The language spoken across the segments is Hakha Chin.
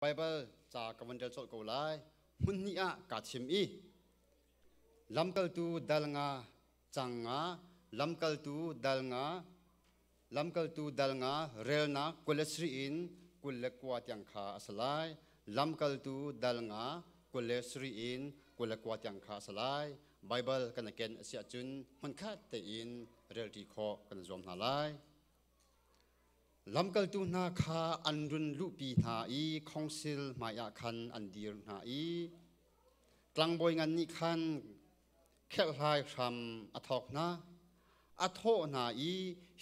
Baibal ca ka van rel colh ko lai. Hmun hnih ah kaa chim i lamkaltu dal nga cang nga lamkaltu dal nga lamkaltu dal nga relnak kul le sri in kul le kua tiang kha a si lai lamkaltu dal nga kul le sri in kul le kua tiang kha a si lai Baibal kan ken a si ahcun hmunkhat tein relṭi khawh kan zuam hna lai Lamkaltu hna kha an run luhpi hna i khongsil hmaiah khan an dir hna i tlangbawi ngan nih khan kherhlai hram a thawk hna. A thawh hna i,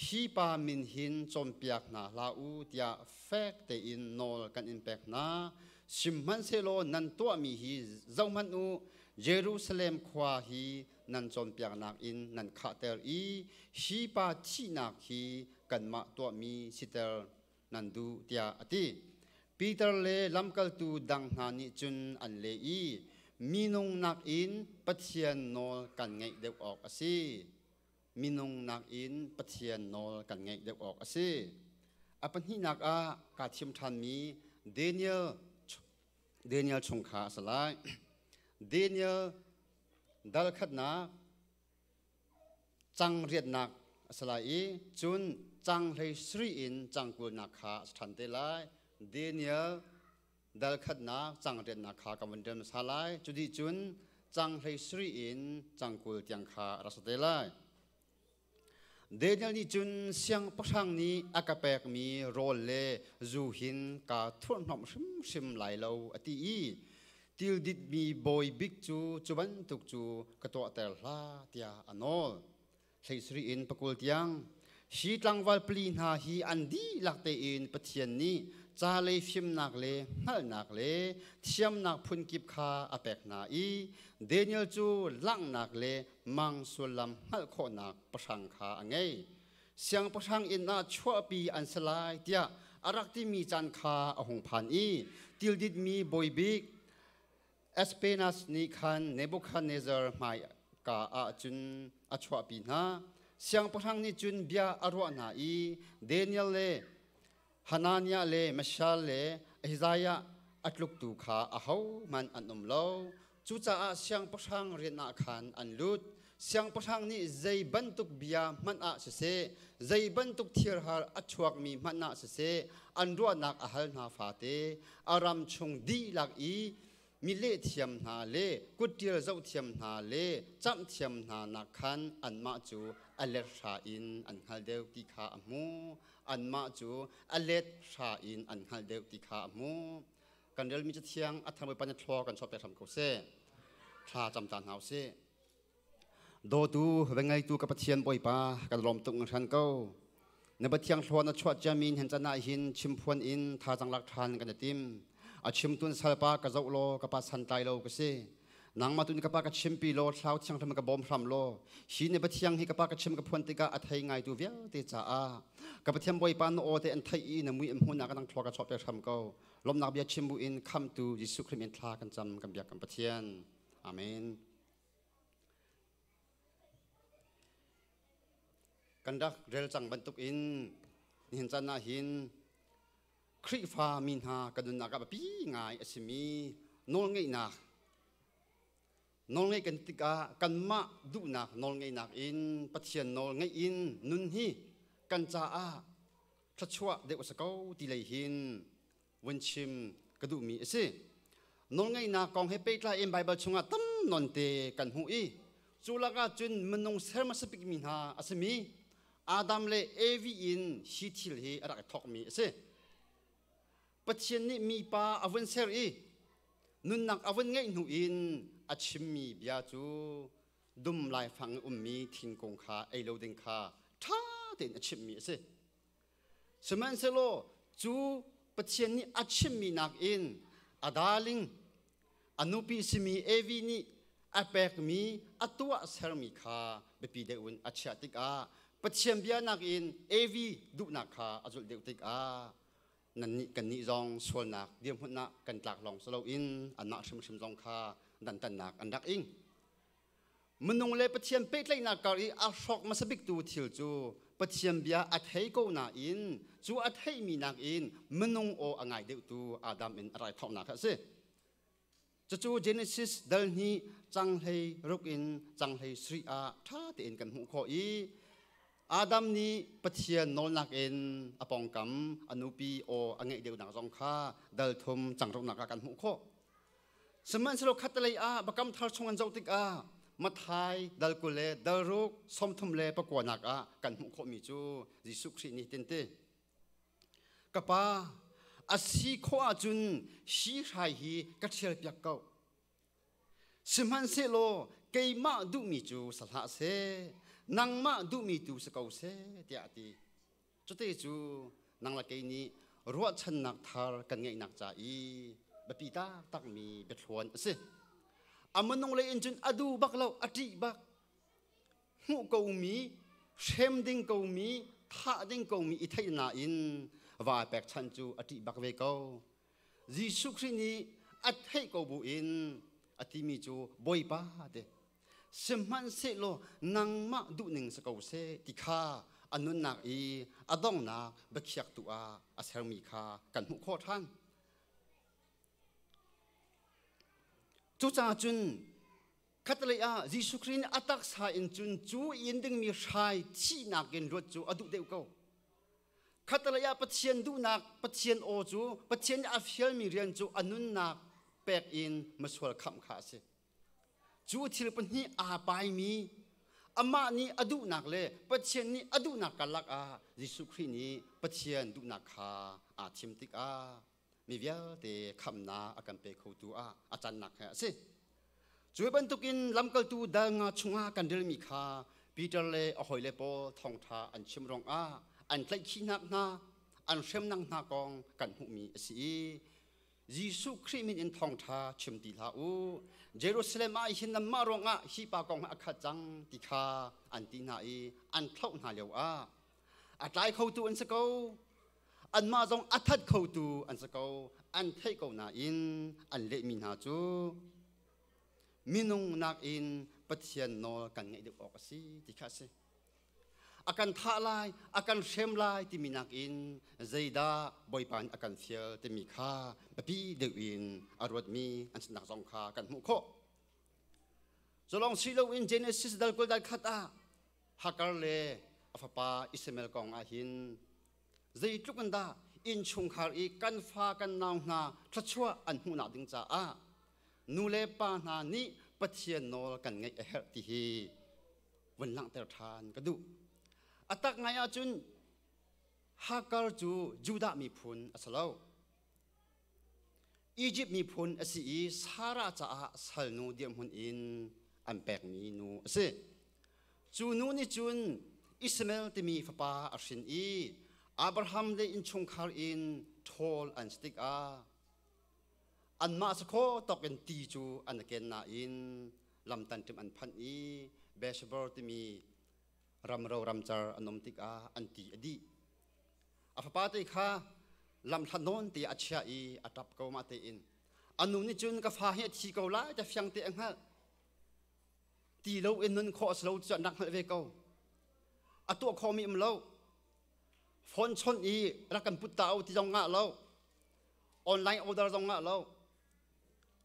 Hi pa min hin cawnpiak hna hlah u tiah fek tein nawl kan in pek hna. Sihmanhsehlaw nan tuahmi hi zohhmanh u, Jerusalem khua hi nan cawnpiaknak in nan khahter i hi pa thihnak hi kanmah tuahmi siter nan duh tiah a ti. Peter le lamkaltu dang hna nih cun an leh i minung nakin Pathian nawl kan ngaih deuh awk a si. Minung nakin Pathian nawl kan ngaih deuh awk a si. A pahnihnak ah kaa thim ṭhanmi Daniel Daniel chung kha a si lai. Daniel Dalkhatnak cang riatnak a si lai i cun cang hlei sri in cang kulnak kha a si ṭhan te lai. Daniel dalkhatnak cang riatnak kha ka van ṭial hmasa lai. Cu dih cun cang hlei sri in cang kul tiang kha a rak si te lai. Daniel nih cun siangpahrang nih a ka pekmi rawl le zu hin kaa thurhnomh hrimhrim lai lo a ti i til ditmi bawi bik cu cu bantuk cu ka tuahter hlah tiah a nawl. Thleisarih in pakul tiang hi tlangval pali hna hi an dihlak tein Pathian nih ca lei fimnak le hngalhnak le thiamnak phunkip kha a pek hna i Daniel cu langhnak le mang sullam hngalh khawhnak pahrang kha a ngei siangpahrang inn ah chuahpi an si lai tiah a rak timi caan kha a hung phan i tilditmi bawibik Aspenas nih khan Nebuchadnezzar hmai ka ah cun a chuahpi hna siangpahrang nih cun bia a ruah hna i Daniel le Hananiah le Mashal le Ahaziah a tluktu kha ahohmanh an um lo. Cucaah siangpahrang rianah khan an lut. Siangpahrang nih zei bantuk bia hmanh ah siseh, zei bantuk thirhar a chuakmi hmanh ah siseh, an ruahnak a hal hna fate, a ram chung dihlak i mi lehthiam hna le kutṭial zohthiam hna le camhthiam hna nak khan anmah cu a let hra in an hngal deuh ti kha a hmu anmah cu a let hra in an hngal deuh ti kha a hmu kan relmi cathiang a thar bawipa nih thlua kan chuahter hram ko seh thla cam ta hna u sih Dawtu va ngeitu ka Pathian Bawipa kan lawm tung hran ko. Na Pathian thluan na chuah ciami hen can ah hin chimphuan in thazang lak ṭhan kan i tim. A chimtun salpa ka zoh law ka pa santlai lo ka si. Nangmah tun ka pa ka chimpi law thlau thianghlim ka bawm hram law hi ne Pathian hi ka pa ka chim ka phuan tikah a thei ngaitu vialte caah ka Pathian Bawipa na aw te an theih i na mui an hmun ah ka nang thlua ka chawhpe hram ko lomnak bia chim bu in khamtu Jesuh Khrih min thla kan cam kan biak kan Pathian amen Kan rak rel cang bantuk in nihin caan ah hin Khrihfa mi hna kan nunnak ah biapi ngai a simi nawlngeihnak nawlngeih kan tikah kanmah duhnak nawlngeihnak in Pathian nawl ngeih in nun hi kan caah thluachuah deuh a si ko ti lei hin van chim ka duhmi a si nawlngeihnak kong he pehtlai in Baibal chungah tam nonte kan hmuh i cu lakah cun minung ser hmasa bikmi hna a simi Adam le Evi in hi thil hi a rak i thawkmi a si Pathian nih mipa a vun ser i nunnak a vun ngeih hnu in a chimmi bia cu dum laifang i ummi thingkung kha ei lo ding kha ṭha tein a chimhmi a si Sihmanhsehlaw cu Pathian nih a chimmi nakin a daling, a nupi simi Evi nih a pekmi a tuah sermi kha biapi deuh in a chiah tikah Pathian bia nakin Evi duhnak kha a zulh deuh tikah nannih kannih zong sualnak dirhmun ah kan tlak lawng si loin anmah hrimhrim zong kha dantannak an rak ing. Minung le Pathian pehtlaihnak kar i a hrawk hmasa biktu thil cu Pathian bia a thei ko nain cu a theihmi nakin minung aw a ngai deuhtu Adam in a raithawknak kha a si. Cucu Genesis dal hnih canghlei ruk in canghlei sri ah ṭha tein kan hmuh khawh i Adam nih Pathian nawlnak in a pawngkam a nupi aw a ngeih deuhnak zong kha dal thum cangrunghnak ah kan hmuh khawh. Sihmanhsehlaw khatlei ah Biakam Thar chung an zoh tikah Mathai dal kul le dal ruk sawmthum le pakuanak ah kan hmuh khawhmi cu Jesuh Khrih nih hin ti. Ka pa, a si khawh ahcun hi hrai hi ka ṭhialpiak ko. Sihmanhsehlaw keimah duhmi cu sa hlah seh, nangmah duhmi tu si ko seh, tiah a ti. Cute cu nang le kei nih ruahchannak thar kan ngeihnak ca i biapi taktakmi biathluan a si. A minung lei in cun a du bak lo, a ṭih bak. Hmuh komi, hrem ding komi, thah ding komi i theih nain vaa pekchanh cu a ṭih bak ve ko. Jesuh Khrih nih a theih ko bu in a timi cu Bawipa te sihmanhsehlaw nangmah duhning si ko seh ti kha a nunnak i a dongnak biakhiaktu ah a sermi kha kan hmuh khawh ṭhan. Cucaah cun khatlei ah Jesuh Khrih nih a taksa in cun cu in dingmi hrai thihnak in ruat cu a duh deuh ko. Khatlei ah Pathian duhnak, Pathian aw cu Pathian nih a fialmi rian cu a nunnak pek in misual khamh kha a si. Cu thil pahnih aa paimi amah nih a duhnak le Pathian nih a duhnak karlak ah Jesuh Khrih nih Pathian duhnak kha aa thim tikah mi vialte khamnak a kan pe khotu ah a cannak he a si. Cu bantukin lamkaltu dal nga chungah kan relmi kha Peter le a hawile pawl thawngṭha an chim ruangah an tlaihkhihnak hna an hremnak hna kong kan hmuhmi a si i Jesuh Khrih min in thawngṭha chim ti hlah u. Jerusalem ah hin nanmah ruangah hi pa kong a khat cang ti kha an ti hna i an thlauh hna lio ah a tlai khotu an si ko. Anmah zong a that khotu an si ko. An theih ko nain an lehmi hna cu minung nakin Pathian nawl kan ngaih deuh awk a si ti kha a si. A kan thah lai, a kan hrem lai timi nakin zeidah Bawipa nih a kan fial timi kha biapi deuh in a ruatmi an sinnak zong kha kan hmuh khawh. Cu lawng si loin Genesis dal kul dal khat ah Hagar le a fapa Ishmael kong ah hin zeitluk in dah innchungkhar i kan fa kan nau hna thluachuah an hmuhnak ding caah nu le pa hna nih Pathian nawl kan ngaih a herh ti hi vun langhter ṭhan ka duh. A tak ngai ahcun Hakar cu Judah miphun a si lo. Egypt miphun a si i Sarah caah salnu dirhmun in an pekmi nu a si. Cu nu nih cun Ismael timi fapa a hrin i Abraham le innchungkhar in ṭhawl an si tikah Anmah sakhaw tokin ti cu an i ken nain lamtan ṭim an phanh i Beshbor timi ramro ramcar an um tikah an ti a dih. A fapa te kha lamhlat nawn te a chia i a ṭap ko ma tein a nu nih cun ka fa hi a thi ko lai te fiang te a hngalh ti lo in nun khawh si lo cu nak hngalh ve ko a tuah khomi um lo phone chawnh i rak kan put ta u ti zong ngah lo online order zong ah lo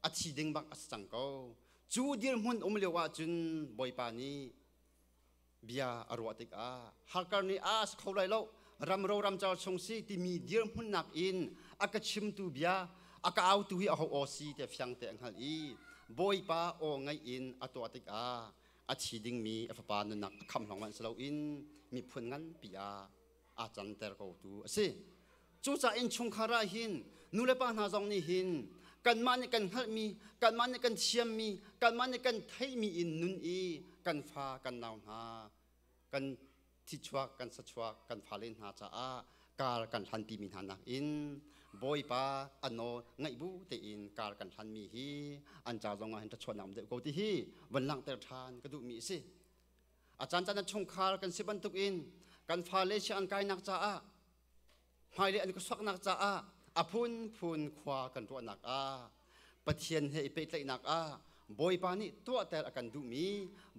a thi ding bak a si cang ko cu dirhmun um lio ah cun bawipa nih bia a ruah tikah harkar nih a si kho lai lo ram ro ram car chung si timi dirhmun nak in a ka chimtu bia a ka autu hi a ho aw si te fiang te a hngal i bawipa aw ngai in a tuah tikah a thi dingmi a fapa nunak a kham lawng man si lo in miphun nganpi ah a cangter ko tu a si cucaah innchungkhar ah hin nule pa hna zong nih hin kanmah nih kan hngalhmi kanmah nih kan thiammi kanmah nih kan theihmi in nun i kan fa kan nau hna kan thichuak kan sachuak kan fale hna caah kar kan hlanpi mi hna nakin bawipa ano ngaih bu tein kar kan hlanmi hi an ca zong ah hin ṭhachuannak um deuh ko ti hi van langhter ṭhan ka duhmi a si a cancaan an chungkhar kan si bantuk in kan fale si an kainak caah hmailei an ka suaknak caah a phunphun khua kan ruahnak ah pathian he i pehtlaihnak ah bawipa nih tuahter a kan duhmi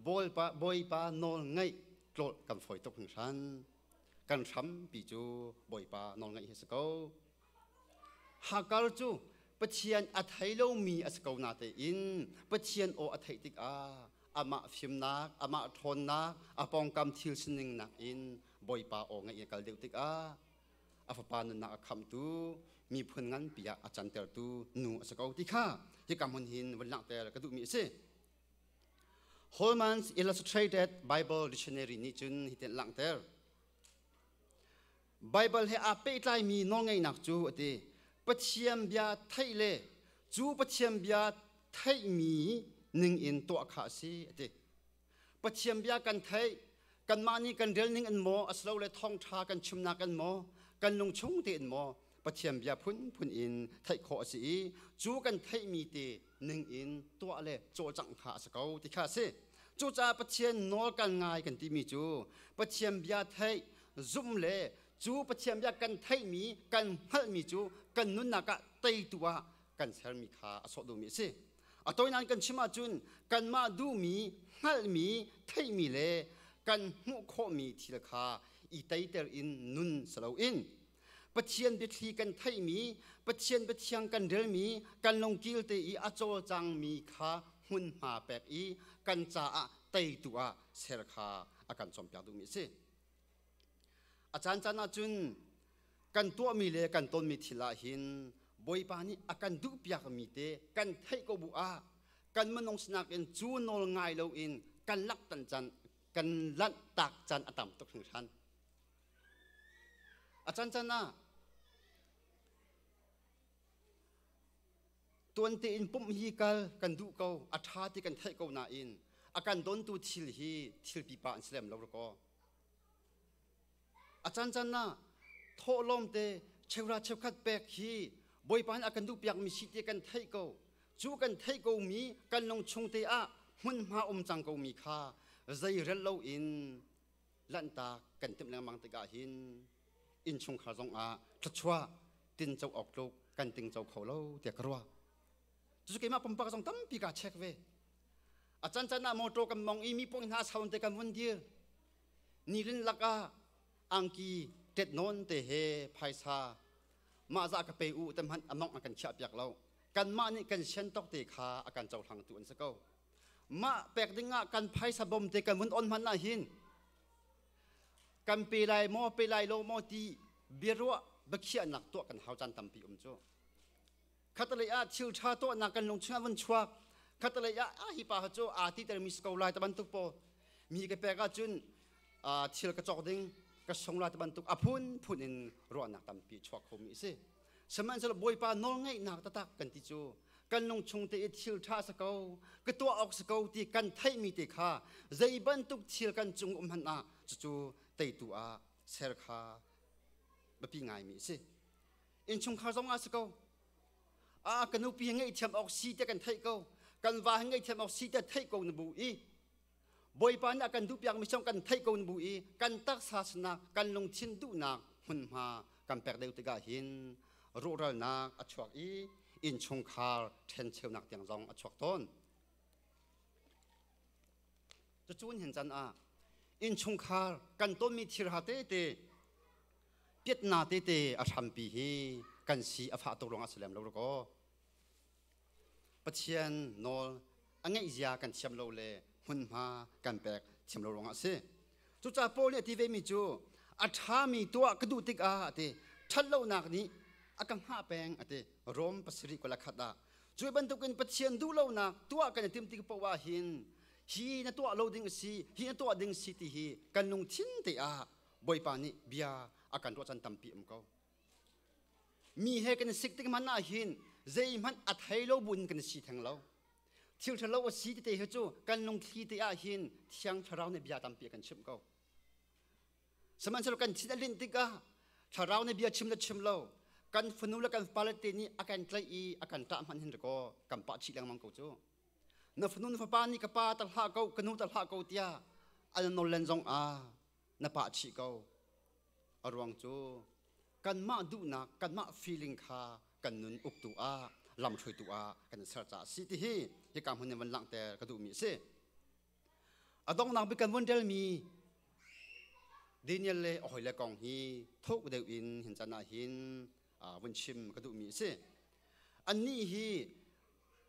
bawipa, bawipa nawl ngaih tlawlh kan fawi tuk hringhran kan hrampi cu bawipa nawl ngaih hi si ko Hakar cu Pathian a thei lomi a si ko na tein Pathian aw a theih tikah amah fimnak, amah ṭhawnnak, a pawngkam thil sining nakin Bawipa aw ngaih i kal deuh tikah a fapa nunnak a khamtu miphun nganpi ah a cantertu nu a si ko ti kha hika hmun hin vun langhter ka duhmi a si. Holman's Illustrated Bible Dictionary nih cun hitin langhter. Baibal he aa pehtlaimi nawlngeihnak cu a ti. Pathian bia theih le cu Pathian bia theihmi ningin tuah kha a si a ti. Pathian bia kan theih, kanmah nih kan relning in maw asilole thawngṭha kan chimnak in maw kan lungchung tein maw Pathian bia phunphun in theih khawh a si i cu kan theihmi te ning in tuah le cawcangh kha a si ko ti kha a si cucaah pathian nawl kan ngai kan timi cu pathian bia theih zumh le cu pathian bia kan theihmi kan hngalhmi cu kan nunnak ah teitu ah kan sermi kha a sawh duhmi a si a tawinan kan chim ahcun kanmah duhmi hngalhmi theihmi le kan hmuh khawhmi thil kha i teiter in nun si loin Pathian biathli kan theihmi, Pathian biathiang kan relmi, kan lungkil te i a cawlcangmi kha hmunhma pek i kan caah teitu ah ser kha a kan cawmpiak duhmi a si. A caancaan ahcun kan tuahmi le kan tonmi thil ah hin Bawipa nih a kan duhpiakmi te kan theih ko bu ah kan minung sinak in cu nawl ngai loin kan laktan can kan lanh tak can a tam tuk hringhran. A cancan ah tuante in pumh hi kal kan duh ko a ṭha ti kan theih ko nain a kan dontu thil hi thil pipa an si lem lo rakaw a cancan ah thawhlawm te cheura cheukhat pek hi bawipa nih a kan duh piakmi si ti kan theih ko cu kan theih ko mi kan lung chung te ah hmunhma um cang ko mi kha zei rel lo in lanhtak kan timh lengmang tikah hin innchungkhar zongah thluachuah tinco awk tluk kan tingco kho lo tiah ka ruah cucu keimah pumpak zong tampi kaa check ve a can can ah motor kan mong i mi pong hna saun te kan hun dir nilin lakah angki tet non te he phaisa mah za ka pe u te hmanh among a kan khiah piak lo kan mah nih kan sian tok te kha a kan cohlang tu an si ko mah pek ding ah kan phaisa bom te kan vun on hman na hin kan pe lai maw pe lai lo maw ti biaruah bakhiahnak tuah kan hau caan tampi um cu khatalei ah thil ṭha tuahnak kan lung chungah vun chuak khatalei ah a hi pa cu aa ti termi si ko lai ta bantuk po mi ka pek ahcun thil ka cawk ding ka sung lai ta bantuk a phun phun in ruahnak tampi chuak khomi si Sihmanhsehlaw Bawipa nawlngeihnak taktak kan ti cu kan lungchung te i thil ṭha sa ko ka tuah awk si ko ti kan theihmi te kha zei bantuk thil kan cung um hmanh ah cucu teitu ah ser kha biapi ngaimi a si innchungkhar zongah si ko a ka nupi hi ngeihthiam awk si tiah kan theih ko kan va hi ngeihthiam awk si tiah theih ko na bu i Bawipa nih a kan duh piakmi chung kan theih ko in bu i kan taksa sinak kan lungthin duhnak hmunhma kan pek deuh tikah hin ruhralnak a chuak i innchungkhar ṭhencheunak tiang zong a chuak tawn. Cucun hin can ah innchungkhar kan tonmi thilha tete piatna tete a hrampi hi kan si a fah tuk ruangah si lem lo rakaw. Pathian nawl a ngeihzia kan thiam lo le hmunhma kan pek thiam lo ruangah a si. Cucaah Paul nih a ti vemi cu a ṭhami tuah ka duh tikah a ti ṭhatlonak nih a ka hngah peng a ti Rom pasarih kul a khat ah cu bantukin Pathian duhlonak tuah kan i tim tik paoh ah hin hi na tuah lo ding a si hi na tuah ding si ti hi kan lungthin te ah Bawipa nih bia a kan ruahchan tampi um ko Mi he kan sik tik hmanh ahhin zeihmanh a thei lo buin kan si theng lo. Thil ṭhalo a si tete hi cu kan lungthli te ahhin Thiang Thlarau nih bia tampi a kan chimh ko. Sihmanhsehlaw kan thin a linh tikah thlarau nih bia chim le chim lo kan fanu le kan fale te nih a kan tlaih i a kan ṭah hmanh hin rikaw kan pah chih lengmang ko cu. Na fanu na fapa nih ka pa ta hlah ko ka nu ta hlah ko tiah an nollen zong ah na pah chih ko. A ruang cu kanmah duhnak, kanmah feeling kha kan nun uktu ah, lamhruaitu ah kan ser caah a si ti hi hi ka hmun in van langh te ka duhmi a si. A dongnang bik kan vun delmi Daniel le a hawile kong hi thuk deuh in hin can ah hin vun chim ka duhmi a si. Annih hi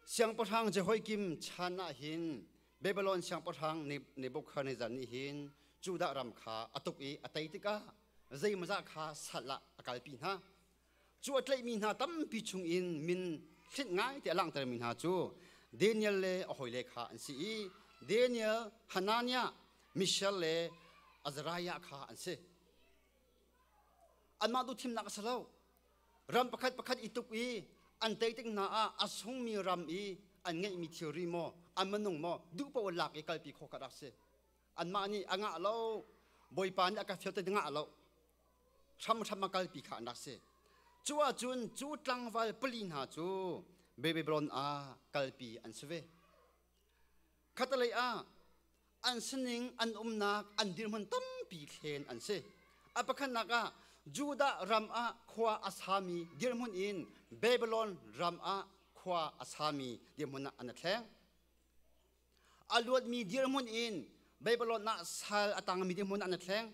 Siangpahrang Jehoiakim chan ah hin Babilon siangpahrang Nebukadnezzar nih hin Judah ram kha a tuk i a tei tikah zeimawzah kha sal ah a kalpi hna. Cu a tlaihmi hna tampi chungin min hlinh ngai tiah a langhtermi hna cu Daniel le a hawile kha an si i Daniel, Hananiah, Mishael le Azariah kha an si. Anmah tu thimnak a si lo. Ram pakhat pakhat i tuk i an tei tik hna ah a sungmi ram i an ngeihmi thilri maw an minung maw duh paoh in lak i kalpi khawh ka rak si anmah nih a ngah lo bawipa nih a ka fial ti ngah lo hramhram a kalpi kha an rak si cu ahcun cu tlangval pali hna cu Babilon ah kalpi an si ve Khatalei ah an sining an umnak an dirhmun tampi thlen an si. A pakhatnak ah Judah ram ah khua a sami dirhmun in Babylon ram ah khua a sami dirhmun ah an i thleng. A luatmi dirhmun in Babylon ah sal a tangmi dirhmun ah an i thleng.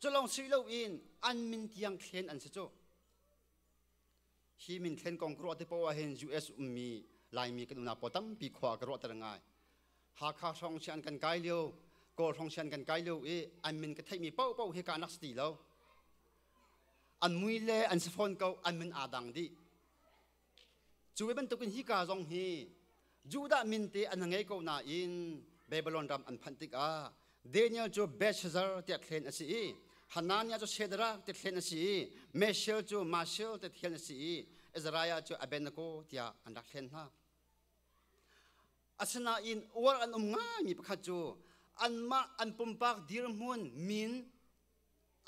Culong si loin an min tiang thlen an si cu. hi min thlen kong ka ruah te poah hin US ummi Laimi kan unau pawl tampi khua ka ruah ter ngai Hakha hrawng si an kan kai lio Kawl hrawng si an kan kai lio i an min ka theihmi poh poh hi ka nak si ti lo an mui le an si fawn ko an min aa dang dih cu bantukin hi ka zong hi Judah min te an ngei ko nain Babylon ram an phanh tikah Daniel cu Belshazzar tiah thlen a si i Hananiah cu Shadrach ti thlen a si i Meshel cu Mashel ti thlen a si i Azariah cu Abednego tiah an rak thlen hna. Asinain uar an um ngaimi pakhat cu anmah an pumpak dirhmun min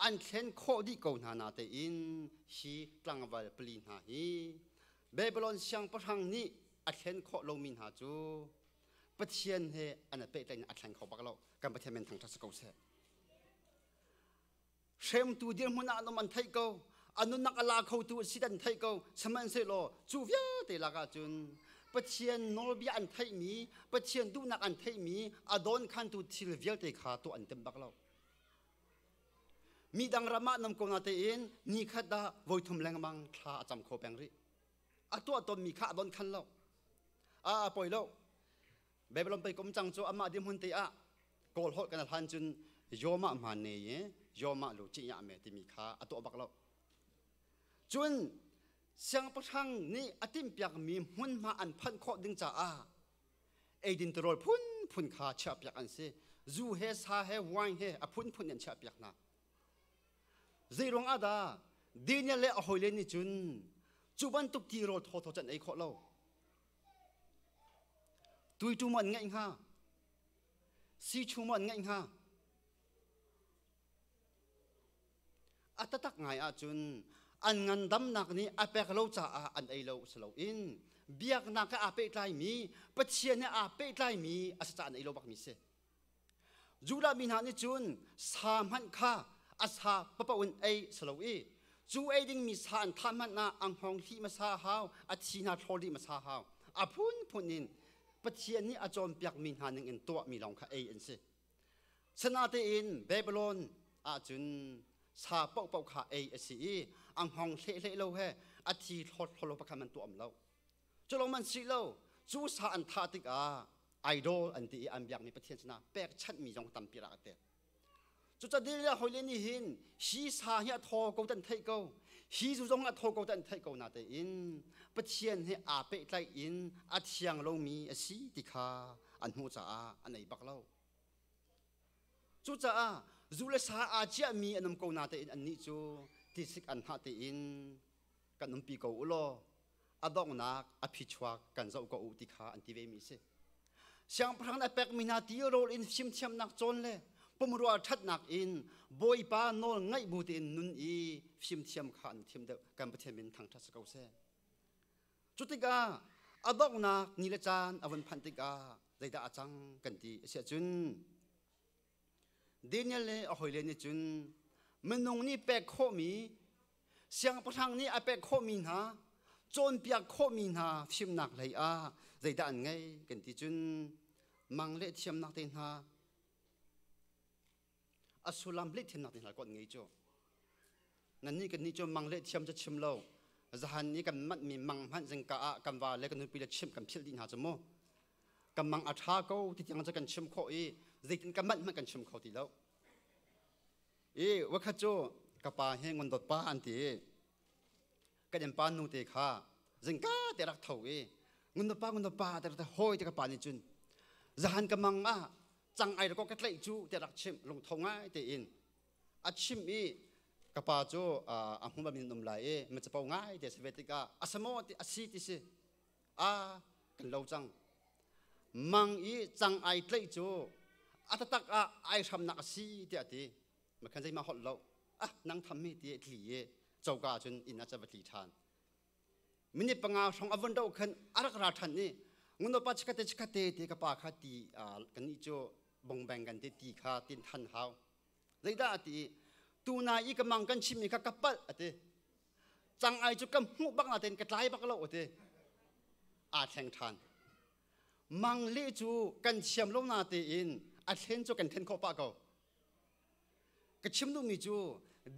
an thlen khawh dih ko hna na tein hi tlangval pali hna hi Babylon siangpahrang nih a thlen khawh lomi hna cu Pathian he an i pehtlain a thleng kho bak lo kan Pathian men thangṭhat si ko seh hremtu dirhmun ah lom an theih ko a nunnak a la khotu si an theih ko sihmanhsehlaw cu vialte lakah cun Pathian nawlbia an theihmi Pathian duhnak an theihmi a dawnkhantu thil vialte kha tuah an tim bak lo Midang ram ah nam ko na tein ni khat dah voithum lengmang thla a cam kho peng rih. A tuah tonmi kha a donh khan lo. A a poi lo. Babylon pei kom cang cu amah dihmun te ah kawl holh kan hlan cun yoma hman ne ye yoma lu chi ya me timi kha a tuah bak lo. Cun siangpahrang nih a timpiakmi hmunhma an phanh khawh ding caah eidin tirawl phunphun kha chiahpiak an si zu he sa he wine he a phunphun in an chiahpiak hna zeiruang ah dah Daniel le a hawile nih cun cu bantuk tirawl thawthaw can ei khawh lo tuitu maw an ngaih hnga sichu maw an ngaih hnga A tatak ngai ahcun an ngandamnak nih a pek lo caah an ei lo si loin biaknak he aa pehtlaimi Pathian he aa pehtlaimi a si caah an ei lo bakmi si. Judah mi hna nih cun sa hmanh kha a sa papoh in ei si lo i cu ei dingmi sa an thah hmanh ah a hngawng hlih hmasa hau, a thi hna thlawl dih hmasa hau. A phunphun in Pathian nih a cawnpiakmi hna ningin tuahmi lawng kha ei an si. Sanatein Babylon ahcun sa paohpaoh kha ei a si i a ngong hlehle lo he a thi thlawthlawlo pakhat an tuam lo. Culo man si lo, cu sa an thah tikah idol an ti i an biakmi pathian sinah pekchanhmi zong tampi rak a tek. Cucadil ya hoi le nih hin hi sa hi a thaw ko tan theih ko hi zu zong a thaw ko tan theih ko na tein Pathian he aa pehtlai in a thiang lomi a si ti kha an hmuh caah an ei bak lo cucaah zu le sa aa ciahmi an um ko na tein annih cu tisik an hah tein kan umpi ko u law a donghnak a phichuak kan zoh ko u ti kha an ti vemi si siangpahrang a pekmi hna ti rawl in fimthiamnak cawn le pumrua ṭhatnak in bawipa nawl ngaih bu tein nun i fimthiam kha an thiam deuh kan pathian min thangṭhat si ko seh Cu tikah a donghnak ni le caan a vun phanh tikah zeidah a cang kan ti a siah cun Daniel le a hawile nih cun minung nih pek khawhmi siangpahrang nih a pek khawhmi hna cawnpiak khawhmi hna fimnak lei ah zeidah an ngeih kan ti cun mang le thiamnak te hna a sullam leh thiamnak ding hal ko ngei cu nan ni kan ni cu mang le thiam cu chim lo zahan ni kan mat mi mang hmanh zingka ah kan va le kan nupi le chim kan phil dih hna cu mu kan mang a tha ko ti tiang cu kan chim khawh i zeitin kan manh hmanh kan chim kho ti lo i wakhat cu ka pa hi ngondot pa an ti kan em pa nu te kha zingka te rak tho i ngondot pa ngondot pa te rak hoi te ka pa nih cun zahan ka mang ah cang ai ko ka tlaih cu tiah rak chimh lungtho ngai tein a chim i ka pa cu a hmu min um lai i ma capo ngai te se ve tikah a sa maw ti a si ti si a kan lo cang mang i cang ai tlaih cu a tatak ah ai hramnak a si tiah ti ma khan zeima holh lo ah nang tham mi ti tli i coka cun inn ah ca va tli ṭhan minit panga hrong a von do khan a rak ra ṭhan i ngono pa chikate chikate te ka pa kha ti kan nih cu bongbeng kan te ti kha tin than hau zeidah ati tu na i ka mang kan chimmi kha ka palh ate cang ai cu ka hmuh bak la tein ka tlai bak lo ate aa thleng ṭhan mang le cu kan thiam lo na tein a thlen cu kan then khawh pah ko ka chim duhmi cu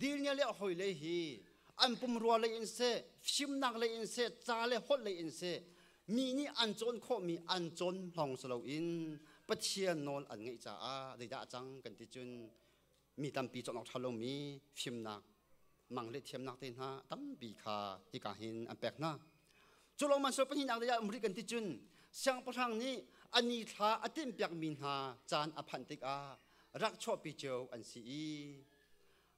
dilnya le hoi lei hi an pumrua lei in se fimnak lei in se ca le holh lei in se mi nih an cawn khawhmi an cawn lawng si loin pathian nawl an ngeih caah zeidah cang kan ti cun mi tampi cawk awk ṭha lomi fimnak mang le thiamnak te hna tampi kha hika hin an pek hna cu lawngman sual pahnihnak dei ah um rih kan ti cun siangpahrang nih a ni thla a timhpiakmi hna caan a phanh tikah rak chuahpi cio an si i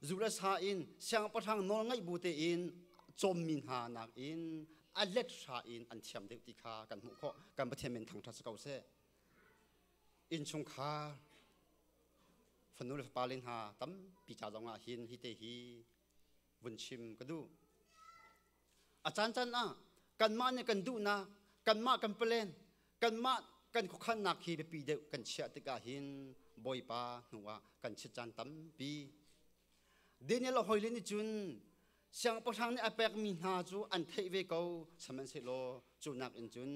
zu le sa in siangpahrang nawl ngaih bu tein cawmmi hna nakin a let hra in an thiam deuh ti kha kan hmuh khawh kan pathian men thangṭha si ko seh innchungkhar fanu le fapale hna tampi ca zongah hin hi te hi vun chim ka duh a caancaan ah kanmah nih kan duhnak kanmah kan palen kanmah kan khuakhannak hi biapi deuh kan chiah tikah hin bawipa hnu ah kan chit caan tampi daniel hoile nih cun siangpahrang nih a pekmi hna cu an theih ve ko sihmanhsehlaw cu nak in cun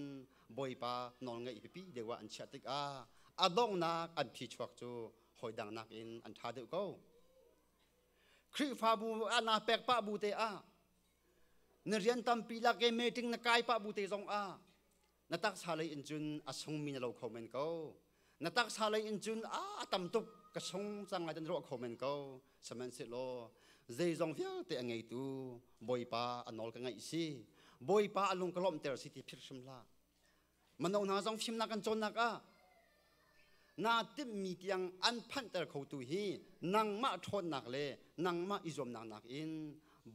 bawipa nawlngaih pipi deuh ah an chiah tikah a donghnak an phi chuak cu hoi dang nakin an ṭha deuh ko Khrihfabu ah naa pek pah bu te ah na rian tampi lak i meeting na kai pah bu te zong ah na taksa lei in cun a sungmi na lo kho men ko na taksa lei in cun a tam tuk ka sung cang lai dan ruah kho men ko sihmanhsehlaw zeizong vialte a ngeitu bawipa a nawl ka ngaih si bawipa a lung ka lawmhter si ti phirhrim hlah Mano hna zong fimnak kan cawnnak ah naa timhmi tiang an phanhter kho tu hi nangmah ṭhawnnak le nangmah i zuamnak nakin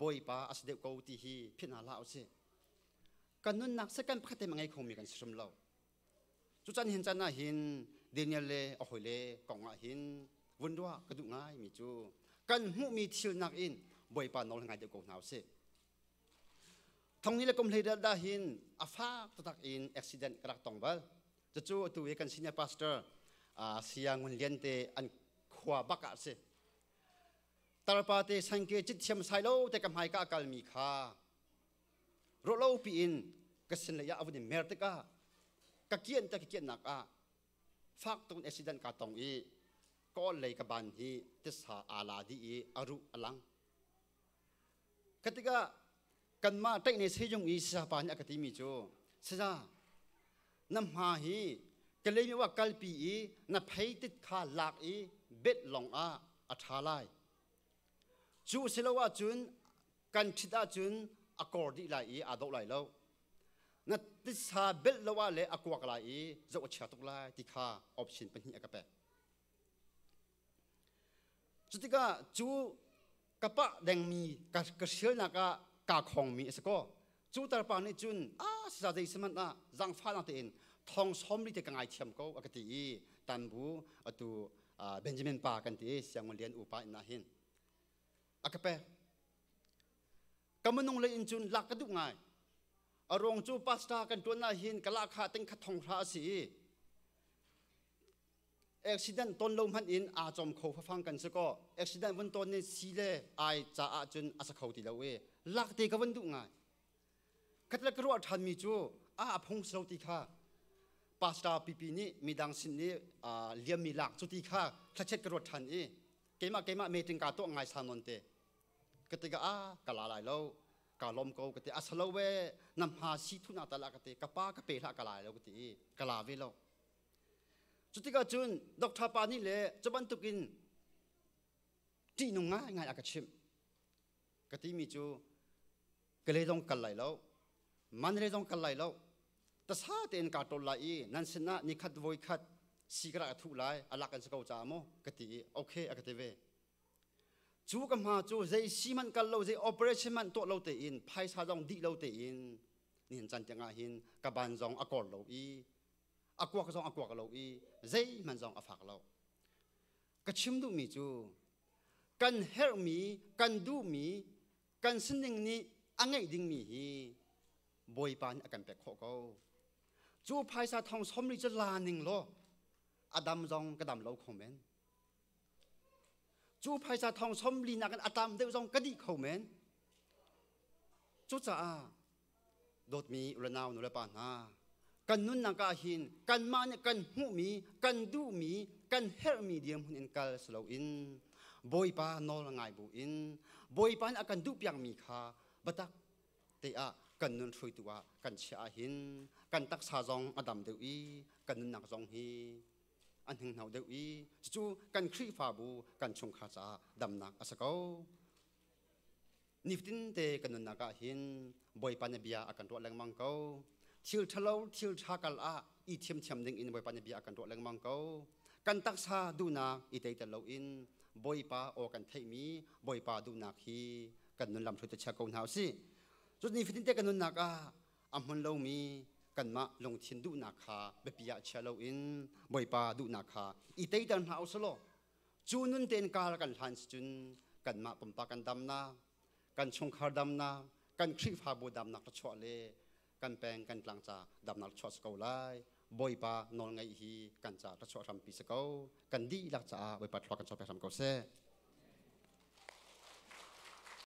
Bawipa a si deuh ko ti hi philh hna hlah u sih. Kan nunnak seh kan pakhat te mah ngei khomi kan si hrim lo. Cucan hin can ah hin Daniel le a hawi le kong ah hin vun ruah ka duh ngaimi cu kan hmuhmi thil nak in Bawipa nawl ngai deuh ko hna u sih. Thongni le kum hleidel dah hin a fak taktak in accident ka rak tong bal. Cucu atu hi kan senior pastor uh, Saya Ngun Lian te an khua bak ah si. Tarpa te sangke cit thiam sai lo te ka hmai ka akal mi kha ro lo pi in ka sin le ya avun in mer tikah ka kian ta ka kian nak ah fak tun accident ka tong i kawl lei ka ban hi tisa ala di i aru alang Ka tikah kanmah ṭaihne sejung i sisapa nih a ka timi cu, Saza, na hma hi Kalaymyo ah kalpi i na pheitit kha lak i bet lawng ah a ṭha lai. Cu si lo ahcun kan ṭhit ahcun a kor dih lai i aa dawh lai lo. Na titsa belh lo ah le a kuak lai i zoh a chia tuk lai ti kha option pahnih a ka pek. Cutikah cu ka pah dengmi ka, ka hrialnak ah kaa khawngmi a si ko. Cu tarpa nih cun a siza zei sihmanh ah zaangfahnak tein thong sawmri te ka ngaithiam ko a ka ti i tan bu atu uh, Benjamin pa kan ti siangman lian upa in hin a ka pek ka minung lei in cun lak ka duh ngai a ruang cu pastor kan tuan ah hin ka lahkhah ting khat thong hra a si i accident ton lo hmanh in aa cawm kho fafang kan si ko accident vun ton in si le ai caah cun a sa kho ti lo i lak te ka vun duh ngai kat le ka ruah ṭhan mi cu a aphung si lo ti kha pastor pipi nih midang sin i liam mi lak cu ti kha thlachet ka ruat ṭhan i keimah keimah meeting ka tuah ngai sa non te ka te ka a ka la lai lo ka lom ko ka te a salo we nam ha si thuna ta la ka te ka pa ka pe la ka lai lo ka ti ka la ve lo Cutikah cun doctor pa nih le cu bantukin ṭihnung ngaingai a ka chimh. Ka timi cu ka le zong kal lai lo, man le zong kal lai lo. Tasa tein kaa ṭol lai i nan sinah nikhat voi khat si ka rak a thuh lai, alak an si ko caah maw ka ti i okay a ka ti ve. Cu ka hma cu zei si hmanh kal lo, zei operation hmanh tuah lo tein, phaisa zong dih lo tein, nihin can tiangah hin ka ban zong a kor lo i a kuak zong a kuak lo i zeihmanh zong a fak lo ka chim duhmi cu kan herhmi kan duhmi kan sining nih a ngeih dingmi hi bawipa nih a kan pek khawh ko cu phaisa thong somri cu la ning law a dam zong ka dam lo kho men cu phaisa thong somli nakin a tam deuh zong ka dih kho men cucaah dawtmi ranau nulepa hna kan nunnak ah hin kanmah nih kan hmuhmi kan duhmi kan herhmi dirhmun in kal si loin bawipa nawl ngai buin bawipa nih a kan duhpiakmi kha biatak te ah kan nun hruitu ah kan chiah ah hin kan taksa zong a dam deuh i kan nunnak zong hi an hninghno deuh i cucu kan khrihfabu kan chungkhar caah damnak a si ko nifatinte kan nunnak ah hin bawipa nih bia a kan ruah lengmang ko thil ṭhalo thil ṭha kal ah i thiamthiam ding in bawipa nih bia a kan ruah lengmang ko kan taksa duhnak i teiter lo in bawipa aw kan theihmi bawipa duhnak hi kan nun lam hrut chia ko hna usih cu nifatinte kan nunnak ah a hmun lomi kanmah lungthin duhnak kha biapi ah chia lo in bawipa duhnak kha i teiter hna usih law cu nun tein kal kan hlan si cun kanmah pumpak kan damnak kan chungkhar damnak kan khrihfabu damnak ra chuah le kan peng kan tlang ca damnak ra chuah si ko lai bawipa nawl ngaih hi kan ca ra chuah hrampi si ko kan dihlak caah bawipa thluak kan chuah pek hram ko seh